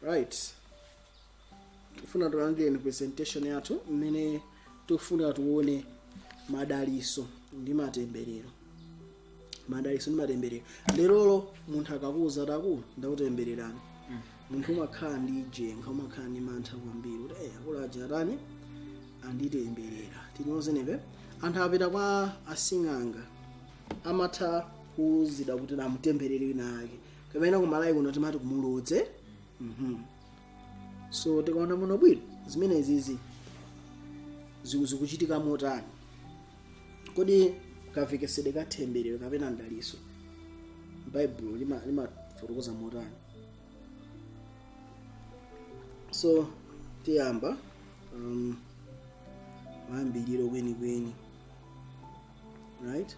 right tifuna tilandireni presentation yathu imene tikufuna tione madaliso ndi matemberero madaliso ndi matemberero lerolo munthu akakuuza kuti akulu ndakutembererani munthu umakhala ndi jenga umakhala ndi mantha kwambiri kuti eh akulu aja atani anditemberera tinyozenepe anthu apita kwa asing'anga amatha kuuzidwa kuti namutemberere wina ake kapena ku malawi kuno timati kumulodze Mhm. so tikaona muno bwino zimene izizi ziku- zikuchitika motani kodi kamvekesedwe ka themberero kapena mdaliso baibulo lima- limafotokoza motani so tiyamba um, mayambiriro kwenikweni right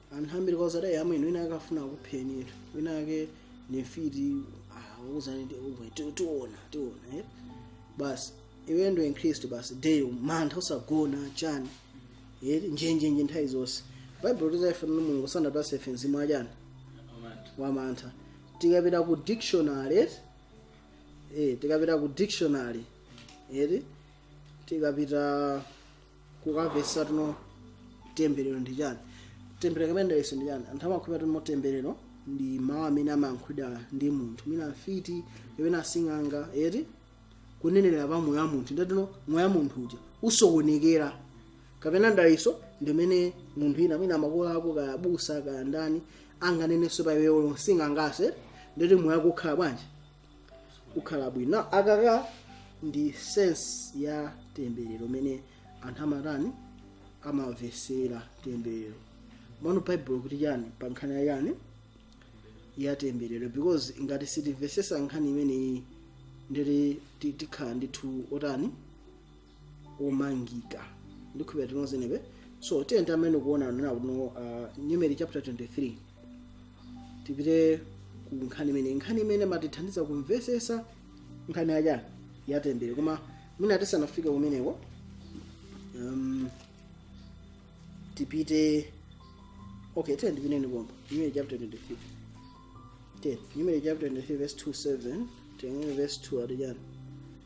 anthu ambiri kwa zadayi amwene wina ake afuna kupheni inu wina ake ndi mfiti akuuzani tiona tiona eh? basi iwe ndo mkhristu basi deyo mantha usagona chani eh? njenjenje nthawi zonse baibulo tizaifana no mulungu sanatipase ife mzimu wachani wamantha tikapita ku dictionary eh? eh, tikapita ku dictionary eti tikapita kukamvesa tuno temberero ndi chani temberero kapena mdaliso ndi chani anthu amakhulupirira tuno temberero ndi mawu amene amayankhulidwa ndi munthu mwina mfiti kapena asing'anga eti kunenera pa moyo wa munthu ndatuno moyo wa munthu uja usokonekere kapena mdaliso ndi mmene munthu wina mwina makolo ako kaya abusa kaya ndani anganenenso pa iweyo msing'angase nde kuti moyo wako ukhala bwanji ukhala bwino na akaka ndi sense ya temberero mmene anthu amatani amamvesera temberero mano baibulo likuti chani pa nkhani ya chani ya temberero because ngati sitimvesesa nkhani imeneyi nde kuti tikhala ndithu otani omangika ndikhulupirira tinonse nebe so tiye tamene kuona nena kuno uh, numeri chapter 23 tipite ku nkhani imene nkhani imene imatithandiza kumvesesa nkhani ya chani ya temberero koma mwina tisanafike kumeneko um, tipite okay tiye tipiteni pomba numeri chapter 23 10 numeri chapter 23 verse 27 tengere verse 2 ati chani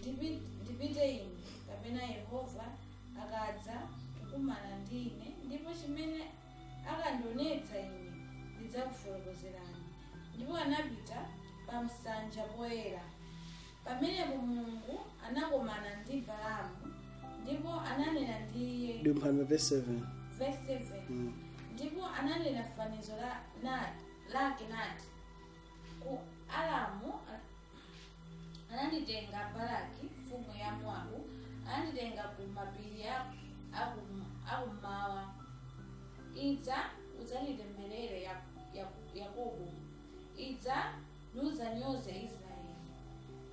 Ndipi- ndipite ine kapena yehova akadza kukumana ndi ine ndipo chimene akandionetsa ine ndidzakufotokozerani ndipo anapita pa msanja poyera pamenepo mulungu anakomana ndi balamu ndipo ananena ndi iye dumphani verse 7 verse 7 Mm. ndipo ananena fanizo la, na, lake nati ku aramu a- ananditenga balaki mfumu ya moabu ananditenga ku mapiri a- aku- akummawa idza udzanditemberere Ya- Ya- yakobo idza nudzanyoze israeli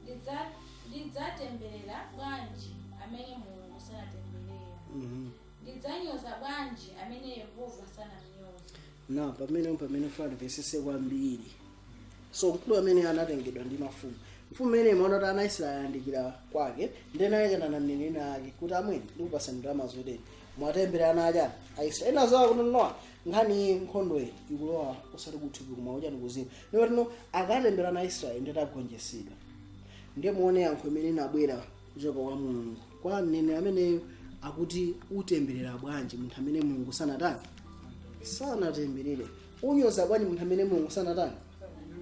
Ndidza- ndidzatemberera bwanji amene mulungu sanatemberera Mhm. ndidzanyoza bwanji amene yehova sanamnyoza na pamene pamene fana vesese kwambiri so mkulu ameneyo anatengedwa ndi mafumu mfumu imene imaona kuti ana israeli ayandikira kwake nde anayankhulana na mneneri wina wake kuti amwene ndikupasa ndalama zoteni muwatemberere ana achani aisraeli ena zawo kuti nawo nkhani nkhondoyi ikulowa osati kuthupi koma uchani kuuzimu ndipo ndikuti akatemberera ana israeli nde kuti agonjetsedwa ndiye muone yankho imene inabwera kuchoka kwa mulungu kwa mneneri ameneyo akuti utemberera bwanji munthu amene mulungu sanatani sanatemberere unyoza bwanji munthu amene mulungu sanatani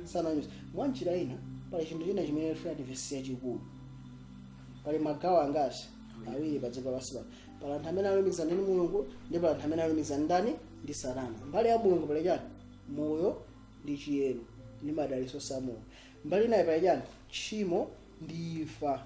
sananyoza mwa njira ina pali chinthu china chimene tifuna timvetsetse chachikulu pali magawo angati awiri pa dziko lapansi pano pali anthu amene alumikizana ndi mulungu ndi pali anthu amene alumikizana ndi ndani ndi satana mbali ya mulungu pali chani moyo ndi chiyero ndi madalitso a mulungu mbali inayi pali chani tchimo ndi imfa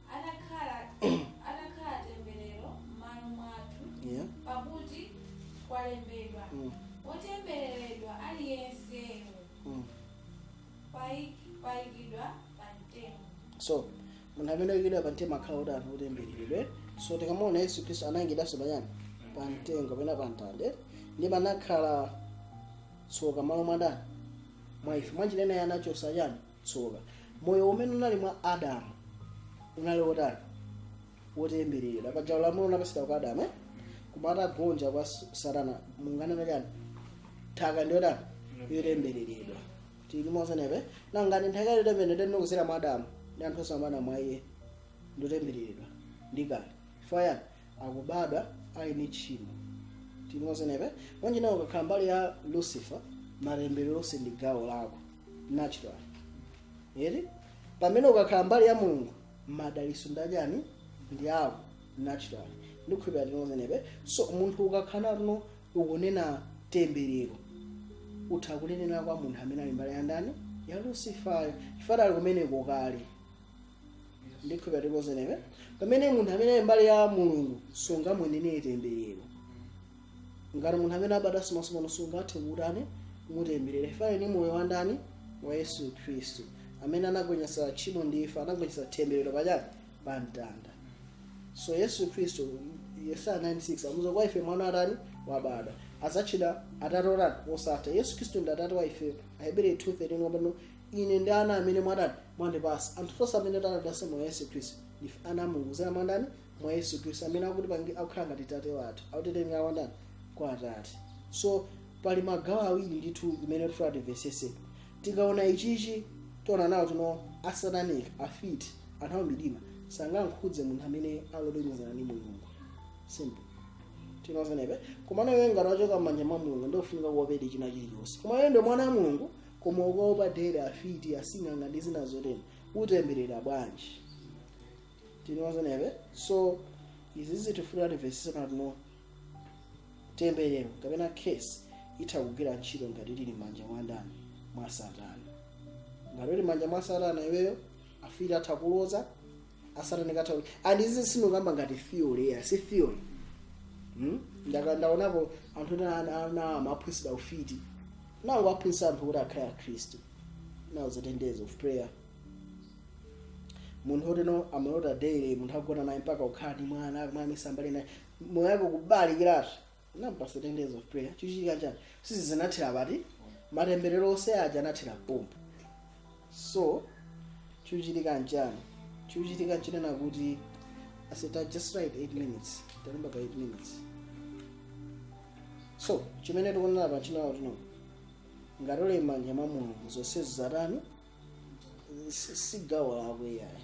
adakhala atakhala temberero m'malo mwathu Yeah. pakuti kwalembedwa Mm. wotembereredwa aliyense Mm. paik- wopachikidwa pa mtengo so munthu amene wayikidwa pa mtengo akhala kuti anthu otembereredwa so tikamaona yesu khristu anayikidwanso pa chani pa mtengo kapena pa mtanda ndipo anakhala tsoka malo mwa ndani mwa ife mwanjira ina iye anachotsa chani tsoka moyo umene unali mwa adamu unali wotani wotembereredwa paja ulamuliro unapatsidwa kwa adamu eh? koma atagonja kwa s- satana mulungu ananena chani nthaka ndi yotani yotembereredwa tili limodzi mpaka pangani nthaka yotembereredwa ndi kudzera mwa adamu ndi anthu onse obadwa mwa iye ndotembereredwa ndi kale chifukwa chani akubadwa ali ndi tchimo tinozenepe manje nawo ukakhala mbali ya lucifer matemberero onse ndi gawo lako natural yet pamene ukakhala mbali ya mulungu madalitso nda ndani ndi ako natural ndikukhulupirira tinozenepe so munthu ukakhala no ukunena temberero utha kunenera kwa munthu amene ali mbali ya ndani ya lucifer chifukwa ali kumeneko kale ndikhulupira tikuzinewe pamene munthu amene ali mbali ya mulungu sungamunenere temberero ngati munthu amene abadwanso mwatsopano sungathe kutani kumutemberera chifukwa ni moyo wa ndani wa yesu khristu amene anagonjetsa tchimo ndi imfa anagonjetsa temberero pachani pa mtanda so yesu khristu yesaya 96 amuza kwa ife mwana atani wabadwa azatchedwa atate otani osatha yesu khristu ndi atate wa ife ahebri 2 wapano ine ndi ana amene mwatani mwandipasa anthu tonse amene talandilase mwa yesu khristu ndife ana a mulungu kudzera mwa ndani mwa yesu khristu amene akutipanga akukhala ngati tate wathu akutitengera kwa ndani kwa atate so pali magawo awiri ndithu imene tifuna timvesese tikaona ichichi tiona nawo tino asatanika afiti anthu amumdima sangankhudze munthu amene ali olumikizana ndi mulungu simple tinozenepe koma nawe ngati wachoka m'manja mwa mulungu ndofunika uopedi china chilichonse koma iwe ndi mwana wa mulungu koma ukaopa dere afiti asing'anga ndi zina zotero utemberera bwanji tinozonabe so izi zitifuna timvesese pano temberero kapena curse itha kugwira ntchito ngati uli m'manja mwa ndani mwa satana ngati uli m'manja mwa satana iweyo afiti atha kuloza asatanika atha and izi sindikukamba ngati theory ya si theory hmm? ndaka ndaonapo anthu ena ana- ana amaphunzira ufiti nawo aphunzira anthu kuti akhale akhristu nawo zi ten days of prayer munthu oteno amalota daily munthu agona naye mpaka ukhala ndi mwana mwana misambali naye moyo wake kubalalikiratu nampasa ten days of prayer chichitika chani sisi zinathera pati matemberero onse aja anathera pompo so chichitika nchani chichitika chinena kuti i said just write 8 minutes talemba ka 8 minutes so chimene tikunena pa chinawo tino ngati uli m'manja mwa mulungu zonse zatani si si gawo lako iyayi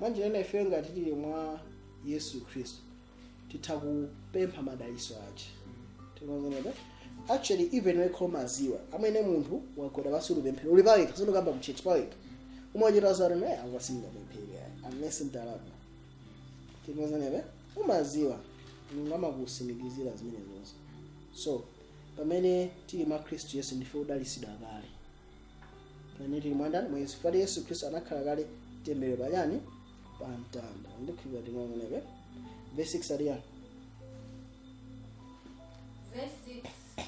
mwanjira ina ifeyo ngati tili mwa yesu khristu titha kupempha madaliso ache tikonzerebe actually even wekha umaziwa pamene munthu wagwada pansi ukupemphera uli pawekha sindikamba mtchetchi pawekha umachita zati naye akwasingamemphera unless utalapa tikonzerebe umaziwa mulungu amakusimikizira zimene zonse so pamene tili mwa khristu yesu ndife odalisidwa kale pamene tili mwandani mwa yesu fati yesu khristu anakhala kale tembelero pachani pa mtanda ndikhulupira tinaoneke verse 6 aliyani Verse 6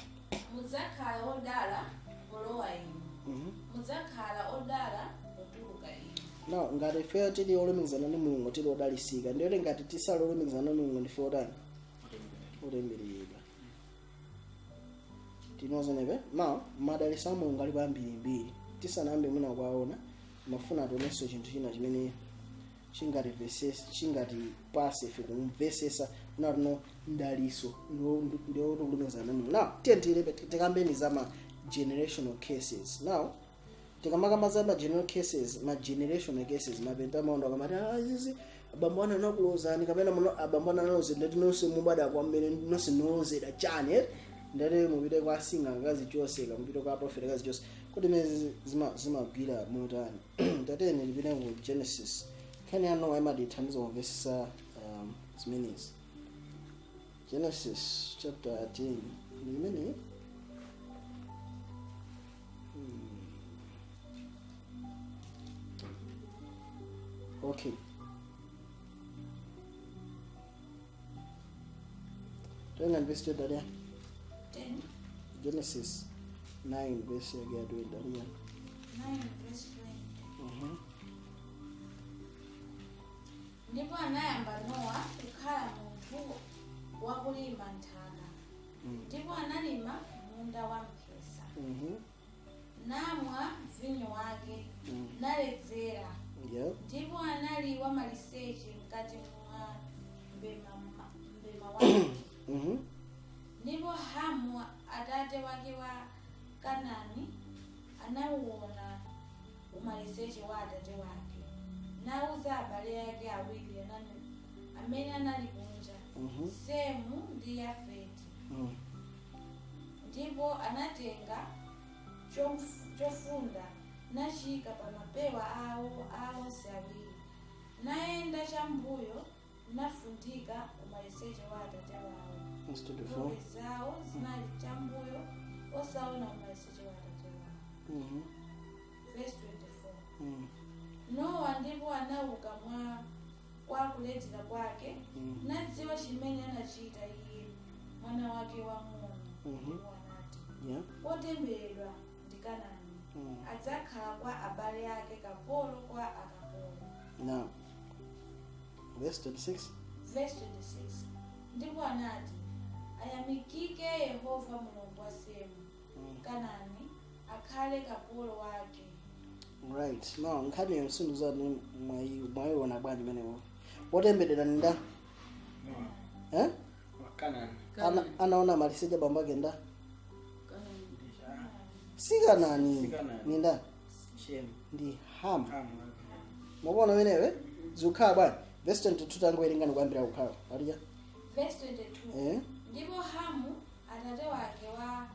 mudzakhala odala polowa inu Mhm. mudzakhala odala potuluka inu now ngati ifeyo tili olumikizana ndi mulungu tili odalisika ndiye kuti ngati tisali olumikizana ndi mulungu ndife otani otembereredwa tinozenebe ma madalitso a mulungu alipo ambirimbiri tisanayambe mwina kuwaona mafuna tionenso chinthu china chimene chingativesesa chingatipase ife kumvesesa kunena kuti no mdalitso ndiwo kulumikizana ndi mulungu now tiye tikambeni za ma generational curses now tikamakamba za ma general curses ma generational curses mapente amakonda kumati "Ah, izizi abambo anu anakulodzani kapena muno abambo anu analodza ndiye kuti nonse mubadwa kwa mmene nonse ndi olodzedwa chani eh? ndiye kuti mupite kwa sing'anga akazichotse kapena mupite kwa profeta akazichotse kodi zimenezi zima- zimagwira motani tatiyeni tipite ku genesis nkhani ya nowa imatithandiza kumvesesa um, zimenezi Genesis chapter 10 ndi imene Hmm. okay tenga ndivesi chodalia Ten, genesis 9 vesi yake yatoendalia nine, verse twenty. Mhm. Ndipo anayamba Nowa kukhala munthu wakulima nthaka, Mm. ndipo analima munda wa mphesa, Mhm. namwa vinyo wake, Mm. naledzera, Yeah. ndipo anali wamaliseche mkati mwa mbema ma- mbema wake. Mhm. ndipo hamu atate wake wa kanani anauona umaliseche wa atate wake nauza abale ake awiri anani- amene anali kunja Mhm. semu ndi yafeti Mm. ndipo anatenga chof- chofunda nachiyika pa mapewa awo a onse awiri nayenda chambuyo nafundika umaliseche wa atate wawo Verse 24. nkhope zawo zinali chambuyo osaona umaliseche wa atate wawo Mhm. verse 24 Mm. nowa ndipo anauka mwa kwa kuledzera kwake Mm. nadziwa chimene anachita iye mwana wake wamng'ono Mhm. ndipo anati Yeah. wotemberedwa ndi kanani Mm. adzakhala kwa abale ake kapolo kwa akapolo Now, verse 26. verse 26 ndipo anati ayamikike yehova mulungu wa semu Mm. kanani akhale kapolo wake Right. Now, nkhani ya sinu za ni mwayi mwayiona bwanji pamenepo. Wotemberedwa ni nda? Eh? Kanani. ana, anaona maliseche a bambo ake nda si kanani Si Kanani. ni ndani Shemu. ndi hamu Hamu. mukuona pamenepo zikukhala bwanji vesi 22 tangowerengani kuyambira kukhala patija Verse 22. eh? ndipo hamu atate wake wa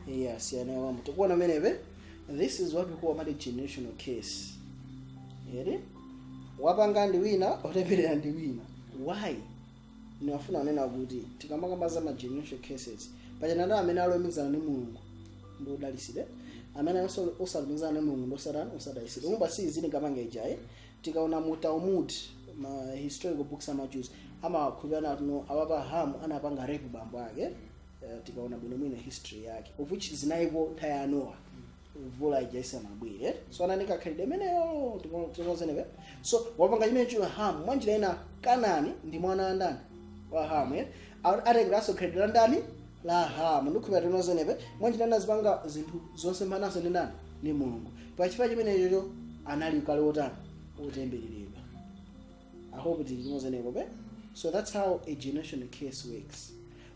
iya siyana ya bambo tikuona mmenemo this is what we call amati generational curse eti wapanga ndi wina otembereredwa ndi wina why ndimafuna kunena kuti tikamakamba za ma generational curses pasiyana ndi amene alumikizana ndi mulungu ndi odalitsidwa amene aso- osalumikizana ndi mulungu ndi osatana osadalitsidwa umba si izini kamanga ijaye tikaona mu talmud ma historical books a ma Jews amakhulupirira kuti no awapa hamu anapanga rape bambo ake uh, tikaona bwinobwino history yake of which zinaliko nthawi ya nowa mvula ija isanabwere so anali makhalidwe amenewo tikumvana eti so wapanga chimenechija hamu mwa njira ina kanani ndi mwana wa ndani wa hamu eh? A- atengeranso khalidwe la ndani la hamu ndikhulupirira tikumvana eti mwa njira ina azipanga zinthu zosemphanaso ndi ndani ndi mulungu pachifukwa chimenechocho anali kale wotani wotembereredwa I hope tikumvana eti So that's how a generational curse works.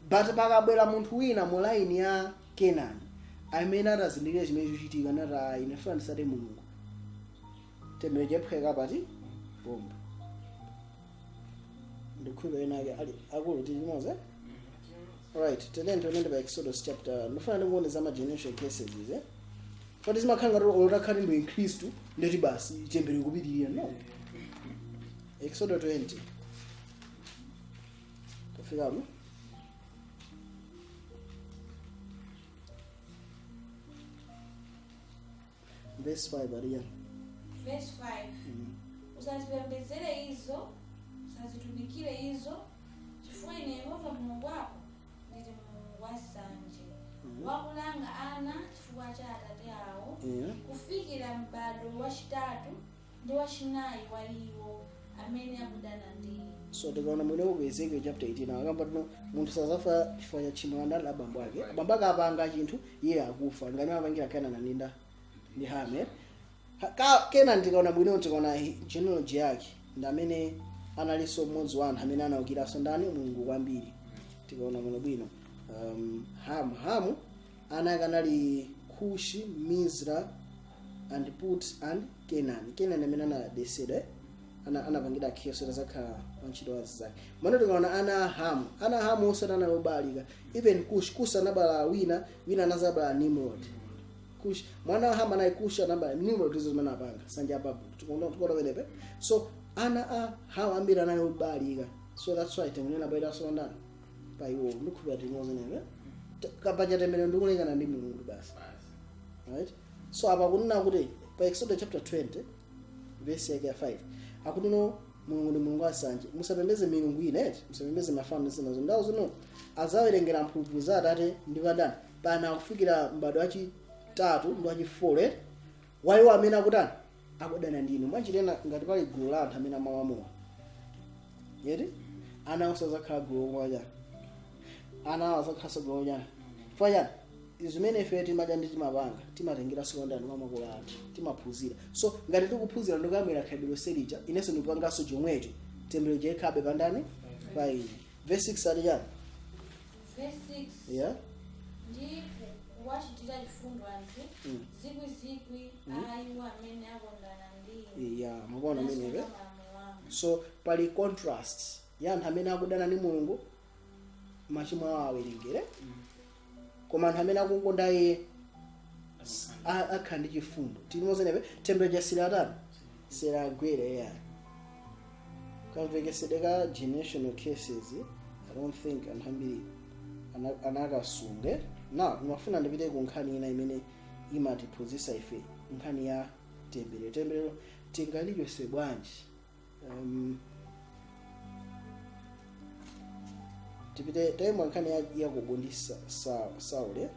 But pakabwera munthu wina mu line ya Kenani amene atazindikira chimene chikuchitika nati ah ine ndifuna nditsate mulungu themberero laphwanyika pati pompo ndikhulupirira ena ake ali akulu tili limodzi eh? right tiyeni tiwerenge pa exodus chapter ndifuna ndikuonetseni ma generational curses izi eh? but zimakhala ngati olo utakhala kuti ndi mkhristu ndiye kuti basi themberero kupitirira no exodus 20 Tafikamo. Verse 5 Maria. verse 5 usazipembedzere izo usazitumikire izo chifukwa ine yehova mulungu wako ndili mulungu wansanje wakulanga ana chifukwa cha atate awo Yeah. kufikira m'bado wachitatu ndi wachinayi wa iwo amene akudana ndi so tikaona bwino ku ezekiel chapter 18 akamba kuti no munthu sadzafa chifukwa cha tchimo la ndani la abambo ake abambo ake apanga chinthu iye akufa ngati amapangira kenani ndi ndani ndi hamu Ha- ka- kenani tikaona bwino tikaona hi- genealogy yake ndi amene analinso mmodzi wa anthu amene anaukiranso ndani mulungu kwambiri tikaona bwino bwino um, hamu hamu ana ake anali kushi mizraim and put and kenani kenani amene anakesedwa eh? ana anapangidwa curse kuti azakhala wantchito wa anzake tsopano tikaona ana a hamu ana a hamu onse anali obalalika even kush kusa anabala wina wina anazabala nimrod kush mwana wa hamu anali kush anabala nimrod izo zimene apanga nsanja ya babulo tikuona tikuona pamenepo so ana a hamu ambiri anali obalalika so that's why tikunena baita solondana pa iwo ndikhulupira tinozenepe kapacha temberero ndikulekana ndi mulungu basi right so apa kunena kuti pa exodus chapter 20 verse yake ya 5 akunena mulungu ndi mulungu wansanje musapembeze milungu ina eti musapembeze mafano zinazo ndawo zino azawerengera mphulupulu za atate ndi pa ndani pa ana kufikira mbadwo wachitatu ndi wachi4 eti waiwo amene akutani akudana ndi inu mwanjira ina ngati pali gulu la anthu amene amamwa mowa yeti ana onse azakhala gulu lomwe chani ana awo azakhalanso gulu chani chifukwa chani zimene ife timadya ndi timapanga timatengera si kwa ndani mwa makolo athu timaphunzira so ngati tikuphunzira ndikuyambira khalidwe lonse lija inenso ndikupanganso chomwecho temberero lija likhalabe pandani pa ine verse 6 ati chani Verse 6. yeah Ndipo kuwachitira chifundo anthu Mm. zikwizikwi a iwo amene akondana ndi inu. yeah mukuona Nasunga ameneyo malamulo anu. so pali contrast ya anthu amene akudana ndi mulungu machimo awo awerengere koma anthu amene akukonda iye a- akhala ndi chifundo tili mozenepe temberero silinatani silinagwere eya kamvekesedwe ka generational curses i don't think anthu ambiri ana- anakasunge na ndimafuna ndipite ku nkhani ina imene imatiphunzitsa ife nkhani ya temberero temberero tingalichose bwanji um, tipite taima nkhani ya yakobo ndi Sa- Sa- sauli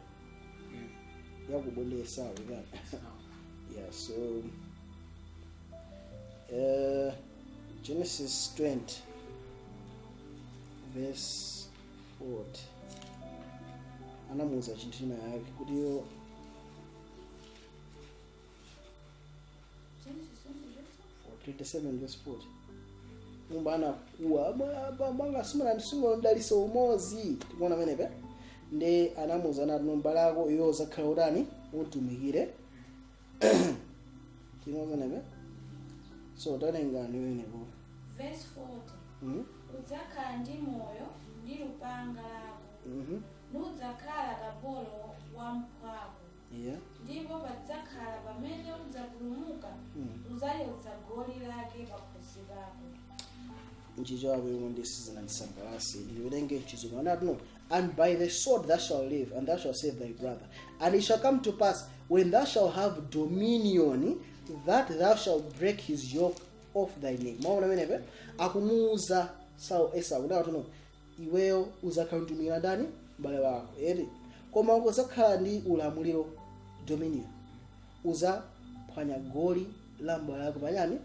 yakubonesa without yeah so uh, genesis 20 verse 40 anamuuza chinthu china yake kuti yo 27 verse 40 umo anakuwa bambo anga simunandisungile mdaliso umozi tikuona pamenepo ndiye anamuuza nati mbale wako iwe uzakhala utani utumikire tikuona pamenepo so tawerengani pamenepo Verse 40. Mhm, Udzakhala ndi moyo ndi lupanga lako. mhm. Nudzakhala kapolo wa mphwako. Yeah. ndipo padzakhala pamene udzapulumuka Mm. udzachotsa goli lake pakhosi pako mchichewa yomwe ndi sizinandisangalase ndiwerenge mchizungu anati no and by the sword thou shalt live and thou shalt serve thy brother and it shall come to pass when thou shalt have dominion that thou shalt break his yoke off thy neck mwaona pamenepo akumuuza sau esau kuti akati no iweyo uzakhala ukutumikira ndani m'bale wako eti koma uzakhala ndi ulamuliro dominion uzaphwanya goli la m'bale wako pa chani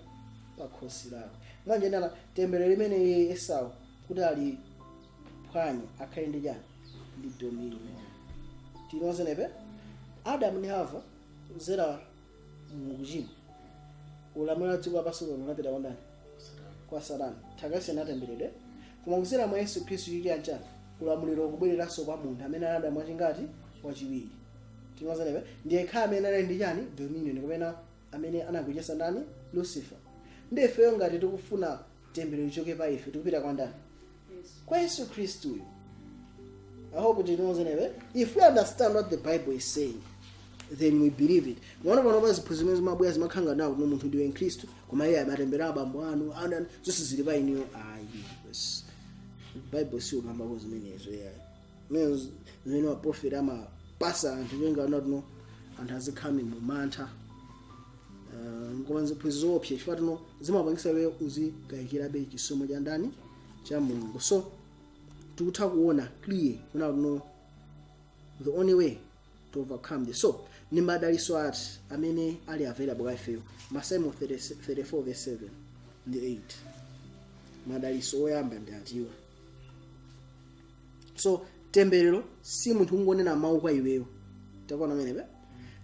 pa khosi lako mwanjira ina tembelero limene iye esau kuti ali phwanye akhale ndi chani ndi dominion tinozenepe adamu ndi hava zera mukuchimwa ulamuliro wa dziko lapansi lino unapita kwa ndani kwa satana nthaka isanatemberedwe koma kudzera mwa yesu khristu chili anchani ulamuliro ukubwereranso kwa munthu amene anabadwa mwachingati mwachiwiri timazanebe ndiye akhala amene ali ndi chani dominion kapena amene anagonjetsa ndani lucifer ndiye ifeyo ngati tikufuna temberero lichoke pa ife tikupita kwa ndani kwa yesu khristuyo i hope you know zenebe if we understand what the bible is saying then we believe it mwaona pano pa ziphunzitso zimene zimabwera zimakhanga nawo kuti munthu ndiwe mkhristu koma iye matemberero a bambo anu ana zonse zili pa inuyo ayi yes. bible siukambako zimenezo yayi Mene z- zimene maprofeti amapasa anthu nyenga anatino anthu azikhala mu mantha Eh, koma ziphunzitso zoopsa chifukwa tino zimapangisa iwe uzikayikirabe chisomo cha ndani cha mulungu so tikutha kuona clear kunena kuti no the only way to overcome this so ndi madaliso ati amene ali available kwa ifeyo masalimo 34 verse 7 ndi 8 madaliso oyamba ndi atiwa so temberero si munthu kungonena mawu kwa iweyo tikuona pamenepo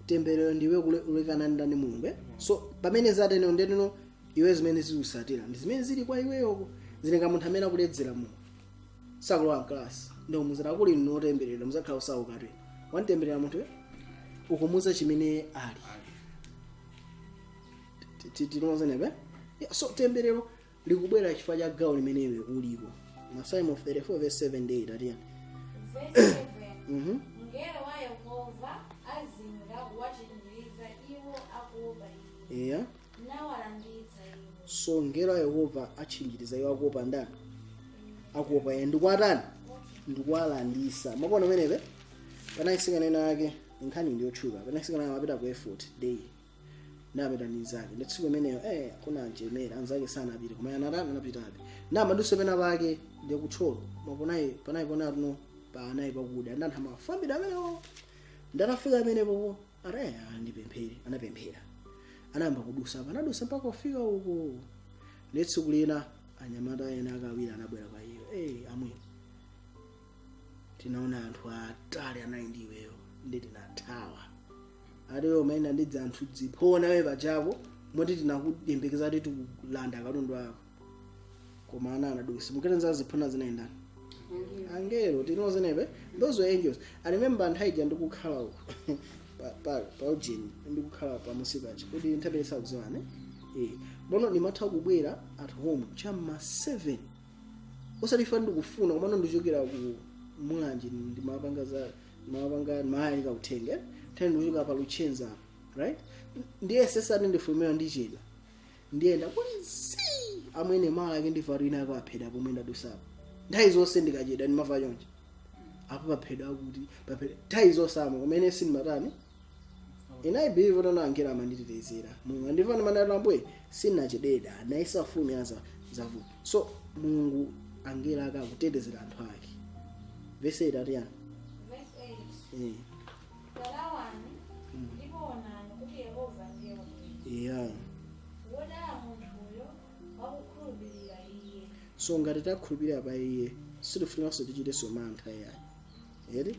temberero ndiwe kule- kulekana ndani mulungu eh? so pamene zatere ndetino iwe zimene zikusatira ndi zimene zili kwa iweyoko zili nga munthu amene akuledzera mulungu sakulowa mkalasi ndo muzira kuli notemberera uzakhala wosaukatu wamtemberera munthu eh? ukumuuza chimene ali Ti- ti- tinozenepe Yeah, so temberero likubwera chifukwa cha gawo limene iwe uliko masalimo 34 verse 7 ndi 8 ati chani Verse 7. Mhm. Mngelo wa Yehova azinga kuwachinjiriza iwo akuopa iye, eya nawalanditsa iwo. so mngelo wa yehova atchinjiriza iwo akuopa ndani akuopa iye ndikuwatani ndikuwalandisa mwaona pamenepo panali atsikana ena ake nkhani ndiyotchuka panali atsikana amapita ku effort day anapita ndi nzake ndiye tsiku limenelo eh kuna anjemera anzake sanapita koma anatani anapitabe amadusa pena pake ndi kutcholo panali panali pona tuno panali pakuda ndi anthu amafambira amenewo ndiye atafika pamenepo ati eh ndipemphere anapemphera anayamba kudusa apa anadusa mpaka kufika uko ndiye tsiku lina anyamata ena akawira anabwera kwa iyo eh amwe tinaona anthu atali anali ndi iweyo ndiye tinathawa ati iwe umayenda ndi dzanthu dziphona we pachako moti tinakuyembekeza kuti tikulanda katundu wako koma ana anadusa simuketenza ziphona zinayendana angelo tinozenepe those were angels i remember nthawi ija ndikukhala uku pa- pa- pa ujeni ndikukhala pamusi pachi kuti nthawi imeneyi sakudziwane Eh, bono ndimatha kubwera at home cha m'ma 7 osati chifukwa ndikufuna komano ndichokera ku mulanje ndimapanga za ndimapanga ndimalalika uthenga eh? nthawi ndikuchoka pa luchenza apa right ndiye m'malo moti ndifulumira ndichedwa ndiyenda kuti zii amwene malo ake ndifato ina ako aphedwa pomwe ndadusapo nthawi zonse ndikachedwa ndimava chonje apo paphedwa kuti paphedwa nthawi zonse amwene kumene sindimatani Ine I believe kuti angelo amanditetezera. Mulungu andiva ndimanena ambuye sindinachedwe dala anaisa fumu ya za zavu. So Mulungu angelo ake akutetezera anthu ake. Verse 8 atiyani. Verse 8. Eh. Lawani ndipo onani kuti Yehova ndiye wabwino. Yeah. Wodala munthuyo wakukhulupirira iye. So ngati takhulupirira pa iye sitifunanso tichitenso mantha yayi. Eti?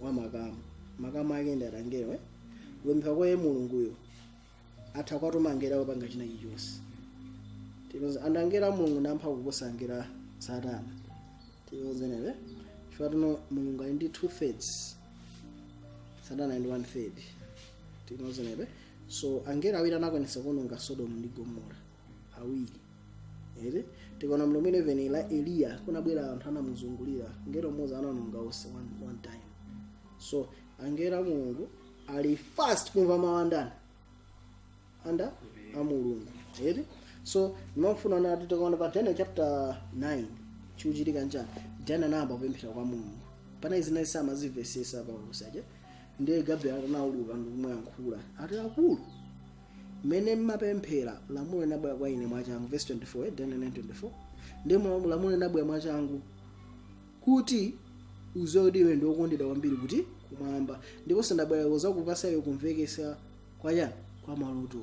wa makamu makamu ake ndi angelo eh? kupemphera kwa iye mulunguyo atha kwatuma angelo kupanga china chilichonse tikumvana ndi angelo a mulungu ndi amphamvu kuposa angelo a satana tikumvana eti chifukwa tinoti mulungu ali ndi two thirds satana ali ndi one third tikumvana eti so angelo awiri anakwanitsa kuononga sodomu ndi gomora awiri eti tikaona mlomo 11 la eliya kunabwera anthu anamuzungulira mngelo mmodzi anaononga onse one, one time so angelo a mulungu ali fast kumva mawu a ndani a ana a mulungu eti so ndimafuna kuti tikaona pa daniel chapter 9 chikuchitika nchani daniel anayamba kupemphera kwa mulungu panali zina iye samazimvetsetsa pa ulosi uja ndiye gabriel anauluka ndikumuyankhula ati akulu Mmene mumapemphera, lamulo linabwera kwa ine mwachangu, verse 24, eh, Daniel 9:24. Ndi mlamu- lamulo linabwera mwachangu kuti udziwe kuti iwe ndi wokondedwa kwambiri kuti? kumwamba ndipo ndabwera kudzakupatsa iwe kumvetsa kwa chani kwa maloto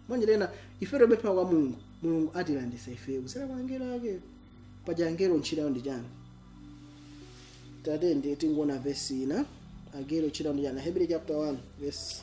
monganso ife tikapemphera kwa mulungu mulungu atilanditsa ife kudzera kwa angelo ake paja angelo ntchito yawo ndi chani tandi tingoona vesi ina angelo ntchito yawo ndi chani hebrew chapter 1 verse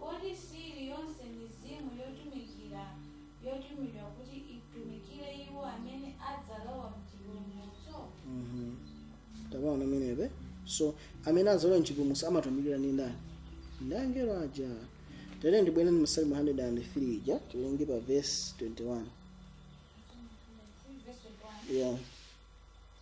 Kodi siiri yonse mizimu yotumikira yotumidwa kuti itumikire iwo amene adzalowa mchipulumutso? Mm -hmm. Tabaona pamenepo. So amene adzalowa mchipulumutso amatumikiridwa ndi ndani? Ndi angelo aja. Tere ndibwere ndi Masalimo 103 ija tiwerenge pa verse 21. Yeah.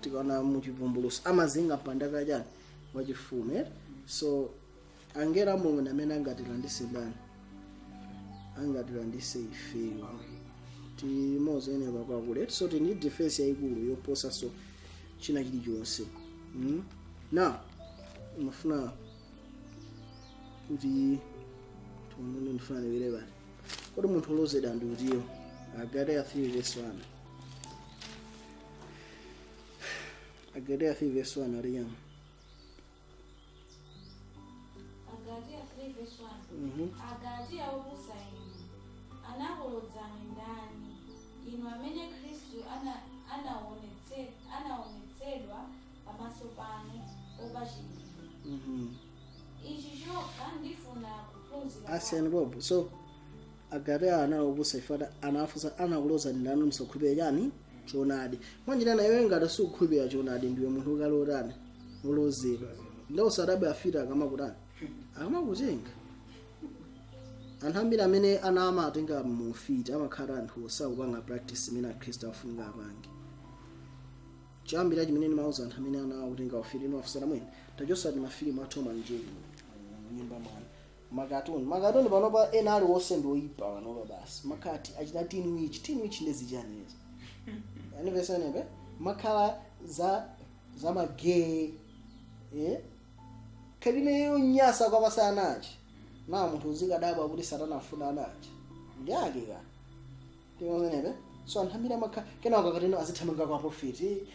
tikaona mu chivumbuluso amazinga mpanda wa chani wachifumu eh? so angelo a mulungu ndi amene angatilanditse ndani angatilanditse ifeyo timozoyenera kwakule so tili ndi defense yayikulu yoposa so china chilichonse mm? now ndimafuna kuti tione ndifuna ndibwere poti kodi munthu olodzedwa ndi utiyo agalatiya 3 verse 1 Agalatia 3 verse 1 adiyani. Agalatia 3 verse 1. Mhm. Agalatia opusa inu, anakulodzani ndani? Inu amene Khristu ana- anaonetse- anaonetsedwa pamaso panu wopachikidwa. Mhm. Ichi chokha ndifuna kuphunzira Asiyani kwanu. bobo. So Agalatia anali opusa chifukwa ata- anawafunsa anakulozani ndani musakhulupirira chani choonadi mwanjira nayo ngati sukukhulupirira choonadi ndiwe munthu uli otani olozedwa nde usadabwe afiti akamakutani akamakutenga anthu ambiri amene ana amatenga mu ufiti amakhala anthu osakupanga practice imene akhristu afunika apange choyambirira chimene ndimauza anthu amene ana akutenga ufiti nimawafunsa amwene tachosani mafilimu a Tom and Jerry nyumba mwanu makatuni makatuni panopa ena aliwonse ndi oyipa panopa basi makatuni achita teen witch teen witch ndi zichani izo anivesenebe amakhala za za magay eh? kalime yonyasa kwapasa ana anachina munthu uzikadabwa kuti satana afuna anawo ndi ake ka ndimamenepe so anthu ambiri amakhala kenako akateno azithamanga kwa profiti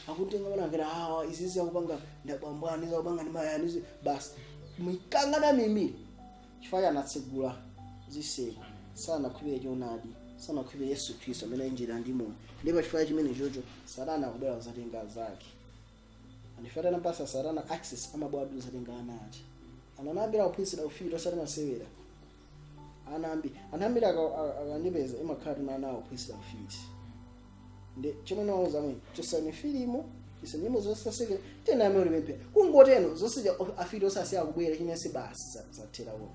akutenga mwana ngati awa izizi akupanga nda bambo wani zakupanga ndi amayi wani izi basi mikangana mimiri chifukwa anatsegula ziseko sanakhulupirira choonadi sanakhulupirira yesu khristu amene ali njira ndi moyo ndipo chifukwa chimene chocho satana akubwera kuzatenga zake ndi ifeyo tinam pasa satana access amabwera kuzatenga ana ake ana ambiri kuphunzira ufiti osati masewera ana ambiri anthu ambiri aka- aka- akandipeza imakhala kuti ana akuphunzira ufiti ndi chomwe nawauza amwene chosani filimu chosa nyimbo zosaseke tena amene ulimempera kungoteno zosija afiti asiya kubwera chinese basi za- zathera uko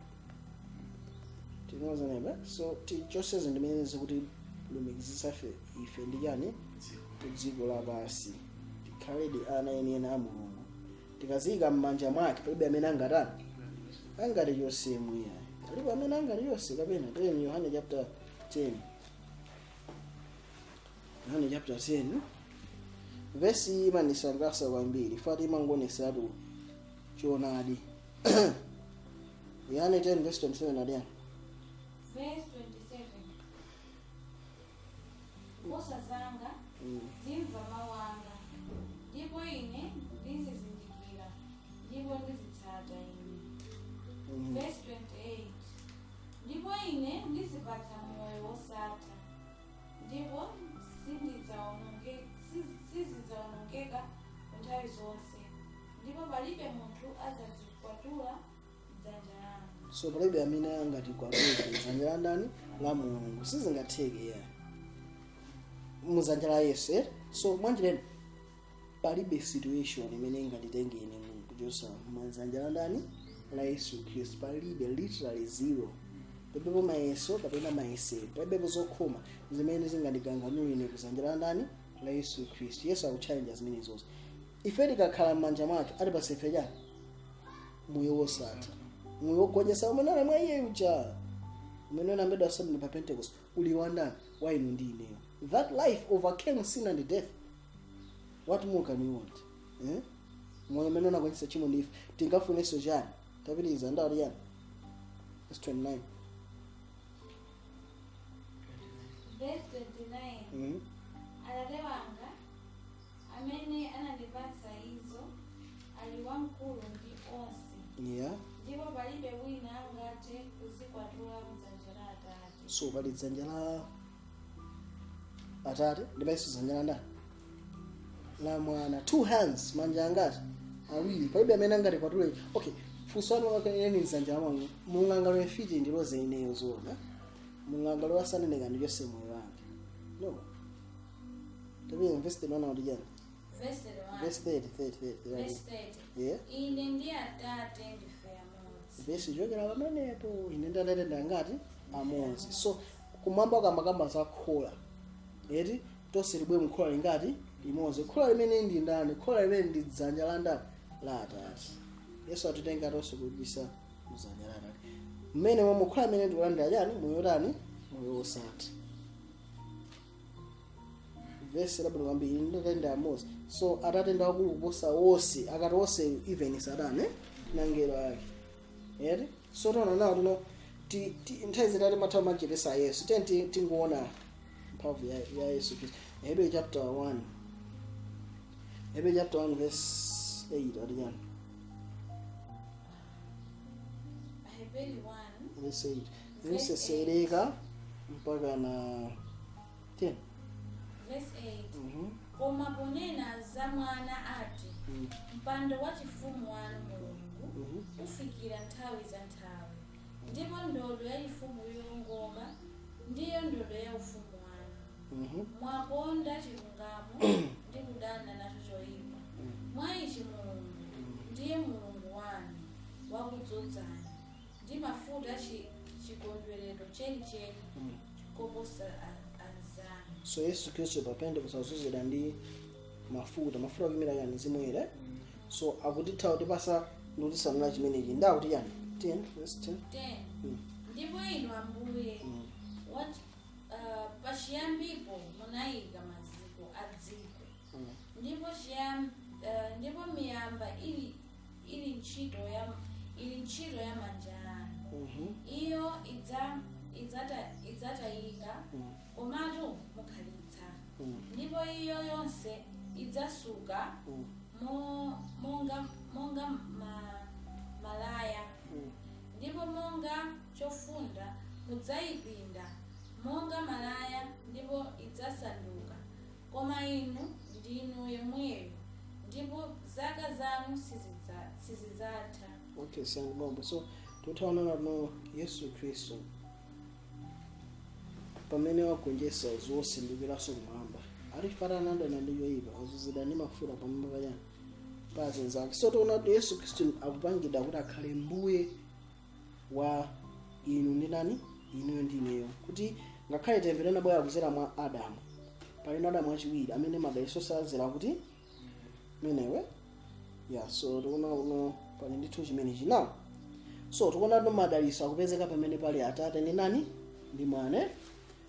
tinozanebe so tichoseze ndimene zikutilumikizisa fe ife ndi chani kudziko lapansi tikhaledi ana enieni a mulungu tikaziika m'manja mwake palibe amene angatani angatichose muiya palibe amene angatichose kapena tiyeni yohane chapter 10 yohane chapter 10 vesi imandisangalatsa kwambiri ifati imangoonesatu choonadi yohane 10 verse 27 adiyani Verse 27. nkhosa zanga zimva mawu anga ndipo ine ndizizindikira ndipo zinditsata ine verse 28 ndipo ine ndizipatsa moyo wosatha ndipo sizidzaononge- siz- sizidzaonongeka kunthawi zonse ndipo palibe munthu adzazikwatula dzanja langa so palibe amene angatikwatule dzanja la ndani la mulungu sizingatheke ya m'dzanja la yesu eh? so mwanjireni palibe situation imene inganditenge ine kuchotsa m'dzanja la ndani la yesu khristu palibe literally zero palibepo mayeso kapena mayesero palibepo zokhoma zimene zingandiganganule ine kudzanja la ndani la yesu khristu yesu akutchallenge zimenezo ife tikakhala m'manja mwake akutipatsa ife chani moyo wosatha moyo wogonjetsa umene uli mwa iye uja umene unalembedwa asomene pa pentecost uli wandani wa inu ndi ineyo that life overcame sin and death what more can you want eh? moyo umene unagonjetsa tchimo ndi imfa tingafunenso chani tapitirizani akuti chani verse 29 Verse 29. mm? Atate wanga, amene anandipatsa izo ali wamkulu ndi onse yeah ndipo palibe wina angathe kuzikwatula mdzanja la atate so pali dzanja la atate ndiyenso dzanja la ndani la mwana two hands manja angati awiri palibe amene angatikwatule okay funso lanu akaeni mdzanja la mwana mungangalowe ufiti ndilodze ineyo zoona mungangalowe usatanic ndichotse moyo wanga no Tatiyeni verse 31 akuti chani? Verse 31. Verse 30, 30, 30. Verse 30. Yeah. Ine ndi Atate ndife amodzi. Verse ikuchokera pamenepo. Ine ndi Atate ndi angati? Amodzi. So kumwamba akamakamba za khola. Eti tonse tilowe mkhola lingati? Limodzi. Khola limeneli ndi ndani? Khola limeneli ndi dzanja la ndani? La Atate. Yesu atitenga tonse kubisa mdzanja la Atate. Mmene momwe khola limene tikulandira chani? Moyo wotani? Moyo wosatha. vesi labwino kwambiri ndi atate ndi amodzi so atate ndi akulu kuposa wonse akati wonse even satana eh? nangelo ake eti so tona nawo tino ti- ti- nthawi zitati timathawa machitidwe a yesu tiye ti- tingoona mphamvu ya, ya yesu kristu hebrew chapter 1 hebrew chapter 1 verse 8 akuti chani Aheberi 1 verse 8 kutsetsereka mpaka na 10 Verse 8. Mhm. koma ponena za mwana ati Mm. mpando wa chifumu wanu mulungu Mhm. ufikira nthawi za nthawi ndipo ndodo ya chifumu yoongoka ndiyo ndodo ya ufumu wanu Mhm. mwakonda chilungamo ndi kudana nacho choyipa mwa ichi mulungu ndiye mulungu wanu wakudzozani ndi mafuta chi, chikondwerero chenicheni koposa a- anzanu so yesu khristu pa pentekoste azozedwa ndi mafuta mafuta akuyimira yani mzimu woyera so akutha kutipasa ndikutisanulira chimenechi ndi akuti yani 10 verse 10 10 Mm. ndipo inu ambuye Mm. wat- ah, pachiyambipo munayika maziko a dziko Mm. ndipo chiyam- ah, ndipo miyamba ili ili ntchito ya ili ntchito ya manja anu iyo idza idzata idzatayika komatu mukhalitsa ndipo iyo yonse idzasuka mo- monga monga ma, malaya ndipo monga chofunda mudzayipinda monga malaya ndipo idzasanduka Koma Inu ndinu yemweyo, ndipo zaka zanu sizidza- sizidzatha. okay siyani pompo so tikutha kuona kuti yesu khristu pamene wagonjetsa zonse ndikukweranso kumwamba atipata anadana ndi choipa azozedwa ndi mafuta pamwamba pachani pa azinzake so tikuona kuti yesu khristu akupangidwa kuti akhale mbuye wa inu ndi nani inuyo ndi ineyo kuti ngakhale temberero linabwera kuzera mwa adamu palinso adamu wachiwiri amene madalitso azazera kwa ameneyo ya so tikuona uno pali ndithu chimenechi nawo so tikuona kuti madalitso akupezeka pamene pali atate ndi nani ndi mwana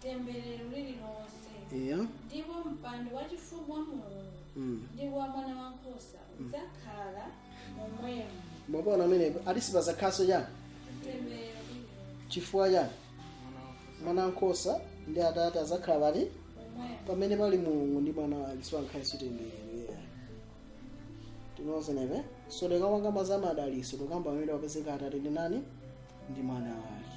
temberero lililonse eya ndipo mpando wachifumu wa mulungu Mm. ndi wa mwana wankhosa udzakhala momwemo mwapaona pamene akuti sipazakhalanso chani temberero lililonse chifukwa chani mwana wankhosa ndi atate azakhala pati momwemo pamene pali mulungu ndi mwana wake sipakhalanso temberero yeah. tinozenepe so tikamakamba za madaliso tikukamba pamene papezeka atate ndi nani ndi mwana wake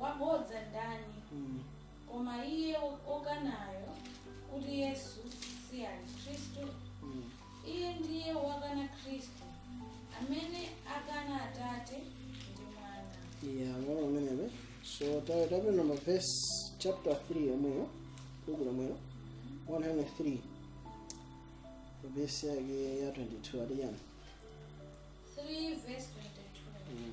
wabodza ndani Mm. koma iye okanayo kuti yesu si ali khristu Mm. iye ndiye wokana khristu amene akana atate ndi mwana ya mwana ameneyo so tawe tapenda mavesi chapter 3 yomweyo buku lomwelo 103 vesi yake ya 22 akuti yani 3 verse 22 Mm.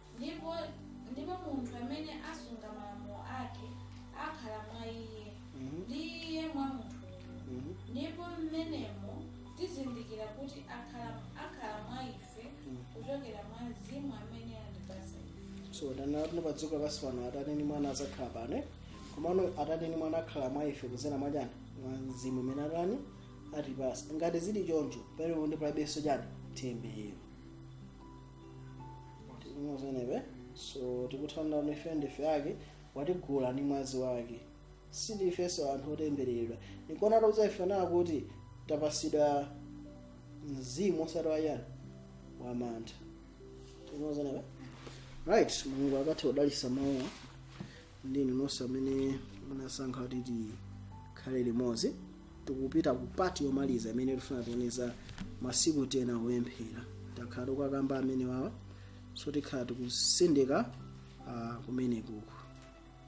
ndipo ndipo munthu amene asunga malamulo ake akhala mwa iye Mhm. ndi iye mwa munthuyo Mhm. ndipo mmenemo tizindikira kuti akhala akhala mwa ife Mhm. kuchokera mwa mzimu amene anatipasa ife so tikuona kuti pa dziko lapansi pano atate ndi mwana azakhala pano eh? komano atate ndi mwana akhala mwa ife kuzera mwa chani mwa mzimu umene atani atipasa ngati zili choncho palibe ndi palibenso chani temberero timuzenere so tikuthandiza ife ndife ake watigula ndi mwazi wake sindifenso anthu otembereredwa ndikuona tauzana ife nawo kuti tapasidwa mzimu osati wayani wamantha tikumazenebe right mulungu apathe kudalisa mawu ndi inu nonse amene munasankha kuti tikhale limodzi tikupita ku pati yomaliza imene tifuna tioneza masiku tena kupemphera takhala tikukamba amenewawa so tikhala tikusindika uh, kumenekuku